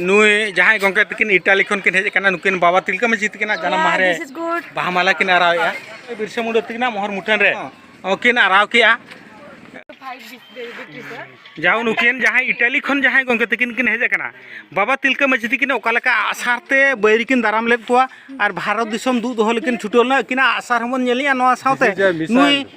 ᱱᱩᱭ ᱡᱟᱦᱟᱸᱭ ᱜᱚᱝᱠᱮ ᱛᱤᱠᱤᱱ ᱤᱴᱟᱞᱤ ᱠᱷᱚᱱ ᱠᱤᱱ ᱦᱮᱡ ᱟᱠᱟᱱᱟ ᱱᱩᱠᱤᱱ ᱵᱟᱵᱟ ᱛᱤᱞᱠᱟᱹ ᱢᱟᱹᱡᱷᱤ ᱛᱤᱠᱤᱱ ᱡᱟᱱᱟᱢ ᱢᱟᱦᱟ ᱨᱮ ᱵᱟᱦᱟ ᱢᱟᱞᱟ ᱠᱤᱱ ᱟᱨᱟᱣᱮᱜᱼᱟ ᱵᱤᱨᱥᱟ ᱢᱩᱱᱰᱟ ᱛᱤᱠᱤᱱ ᱢᱚᱦᱚᱨ ᱢᱩᱴᱷᱟᱹᱱ ᱨᱮ ᱠᱤᱱ ᱟᱨᱟᱣ ᱠᱮᱜᱼᱟ ᱡᱟᱦᱟᱸ ᱱᱩᱠᱤᱱ ᱡᱟᱦᱟᱸᱭ ᱤᱴᱟᱞᱤ ᱠᱷᱚᱱ ᱡᱟᱦᱟᱸᱭ ᱜᱚᱝᱠᱮ ᱛᱤᱠᱤᱱ ᱠᱤᱱ ᱦᱮᱡ ᱟᱠᱟᱱᱟ ᱵᱟᱵᱟ ᱛᱤᱞᱠᱟᱹ ᱢᱟᱹᱡᱷᱤ ᱛᱤᱠᱤᱱ ᱚᱠᱟ ᱞᱮᱠᱟ ᱟᱥᱟᱨ ᱛᱮ ᱵᱟᱹᱭᱨᱤ ᱠᱤᱱ ᱫᱟᱨᱟᱢ ᱞᱮᱫ ᱠᱚᱣᱟ ᱟᱨ ᱵᱷᱟᱨᱚᱛ ᱫᱤᱥᱚᱢ ᱫᱩᱜ ᱫᱚᱦᱚ ᱞᱮᱠᱤᱱ ᱪᱷᱩᱴᱟᱹᱣ ᱞᱮᱱᱟ ᱟᱹᱠᱤᱱᱟᱜ ᱟᱥᱟᱨ ᱦᱚᱸᱵᱚᱱ ᱧᱮᱞᱮᱜᱼᱟ ᱱᱚᱣᱟ ᱥᱟᱶᱛᱮ ᱱᱩᱭ